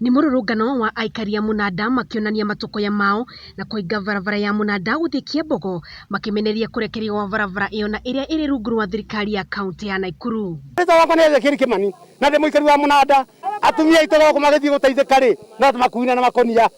Nĩ mũrũrũngano wa aikari a mũnanda makĩonania matũkũya mao na kũhinga barabara ya mũnanda gũthiĩ Kiambogo makĩmenereria kũrekererio gwa barabara ĩyo na ĩrĩa ĩrĩ rungu rwa thirikari ya kaunti ya Naikuru. Rĩtwa rĩakwa nĩ Ezekiel Kĩmani na ndĩ mũikari wa mũnanda. Atumia aitũ thoko magĩthiĩ gũteithĩka rĩ, no tũmakuuine na makũnia.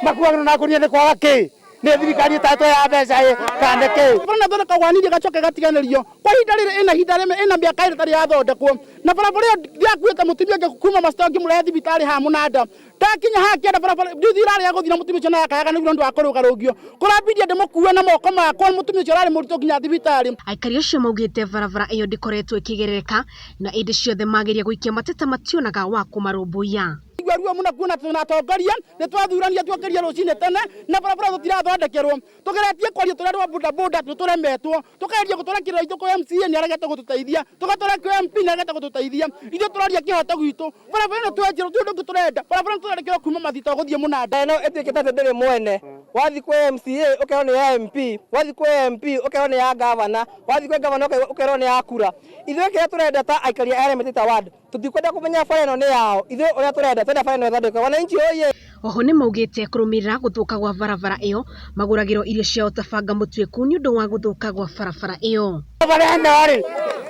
Makuagĩrwo na ngũnia nĩ kwaga kĩ? nä thirikari ĩtatũ ya mbeca ä kande kä bara na thondeka waniri gacoke gatiganĩrio kwa ihinda rĩrĩ ĩna ihinda rĩmwe ĩna mĩaka ĩrĩ tarĩ yathondekwo na barabara ĩyo ndiakuĩte mũtumia ũngĩ kuma macito ngĩmũrehe thibitarĩ ha mũnanda ndakinya haha kĩenda barabara njuthi irarĩa gũthira mũtumia ũcio nayakayaga nĩguo nĩ ũndũ wa kũrũgarũngio kũrambirie ndĩmũkue na moko makwa mũtumia ũcio ararĩ mũritũ nginya thibitarĩ Aikari acio maugĩte barabara ĩyo ndĩkoretwo ĩkĩgerereka na ĩndĩ ciothe mageria gũikia mateta mationaga wa kũmarũmbũiya. Igua ruo muno kuona tuna atongoria ni twathurania tuokirie rucini tene na barabara tutirathondekerwo tugeretie kwaria turi andu a boda boda ni turemetwo tukageria gutwara kirira itu kwa MCA ni aregete gututeithia tugatwara kwa MP ni aregete gututeithia ithu turaria kihoto gitu barabara ino twenjirwo ti undu ungi turenda barabara ino tuthondekerwo kuma mathito guthie munanda ino ituikite ati ndiri mwene wathi kwi MCA ukerwo ni ya MP wathi kwi MP ukerwo ni ya governor wathi kwi governor ukerwo ni ya kura ithuĩ kĩrĩa tũrenda ta aikari a Elementaita ward Tũtikwenda kũmenya bara ĩno nĩ yao. Ithuĩ ũrĩa tũrenda, twenda bara ĩno ĩthondekwe. Wananchi hoye! Oho nĩmaugĩte kũrũmĩrĩra gũthũka gwa barabara ĩyo, magũragĩrwo irio ciao ta banga mũtuĩku nĩũndũ wa gũthũka gwa barabara ĩyo. Bara ĩno rĩ,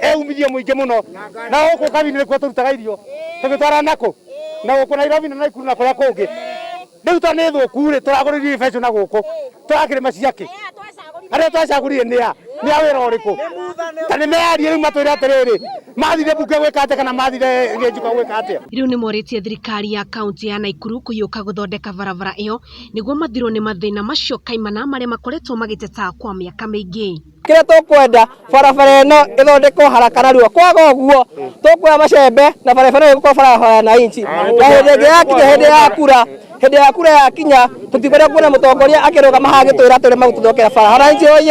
ĩ umithio mũingĩ mũno, na gũkũ Kabini nĩkuo tũrutaga irio, tũgĩtwara nakũ? Nagũkũ Nairobi na Naikuru na kũrĩa kũngĩ. Rĩu to nĩ thũku rĩ tũragũrĩrio indo ta icio na gũkũ tũrakĩrĩma cia kĩ? Arĩa twacagũrire nĩ a? Nĩ a wĩra ũrĩkũ? Ta nĩ meyarie rĩu matwĩre atĩrĩrĩ mathire mbunge gwĩka atĩa kana mathire Gĩnjiko gwĩka atĩa? Rĩu nĩ morĩtie thirikari ya kaũntĩ ya Naikuru kũhiũka gũthondeka barabara ĩyo nĩguo mathirwo nĩ mathĩna macio kaimana marĩa makoretwo magĩteta kwa mĩaka mĩingĩ. kĩrĩa tũkwenda barabara ĩno ĩthondekwo haraka narua kwaga ũguo tũkuoya macembe na barabara ĩyo ĩgũkorwo barabara ya wananchi na hĩndĩ ĩngĩ yakinya hĩndĩ ya kura hĩndĩ ya kura yakinya tũtikwenda kuona mũtongoria akĩrũgama haha agĩtwĩra tũrĩma gũtũthokera bara wananchi oye